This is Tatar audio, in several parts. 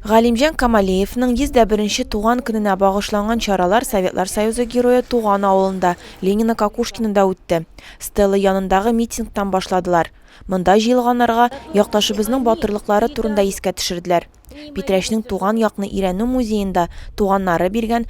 Галимҗан Камалеевның 101 нче туган көненә багышланган чаралар Советлар Союзы Герое туган авылында, Ленино-Кокушкинода үтте. Стела янындагы митингтан башладылар. Монда җыелганнарга якташыбызның батырлыклары турында искә төшерделәр. Питрәчнең туган якны өйрәнү музеенда туганнары биргән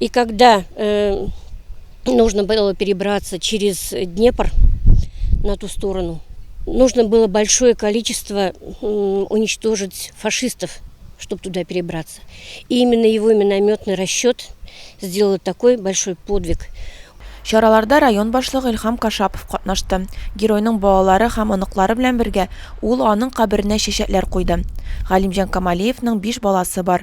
И когда э, нужно было перебраться через Днепр на ту сторону, нужно было большое количество уничтожить фашистов, чтобы туда перебраться. И именно его минометный расчет сделал такой большой подвиг. Чараларда район башлыгы Илхам Кашапов катнашты. Геройның балалары һәм оныклары белән бергә ул аның каберенә чәчәкләр куйды. Галимҗан Камалиевның биш баласы бар.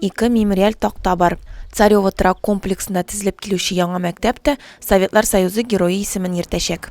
Ике мемориаль такта бар. Царево торак комплексына тезелеп килүче яңа мәктәп тә Советлар Союзы Герое исемен йөртәчәк.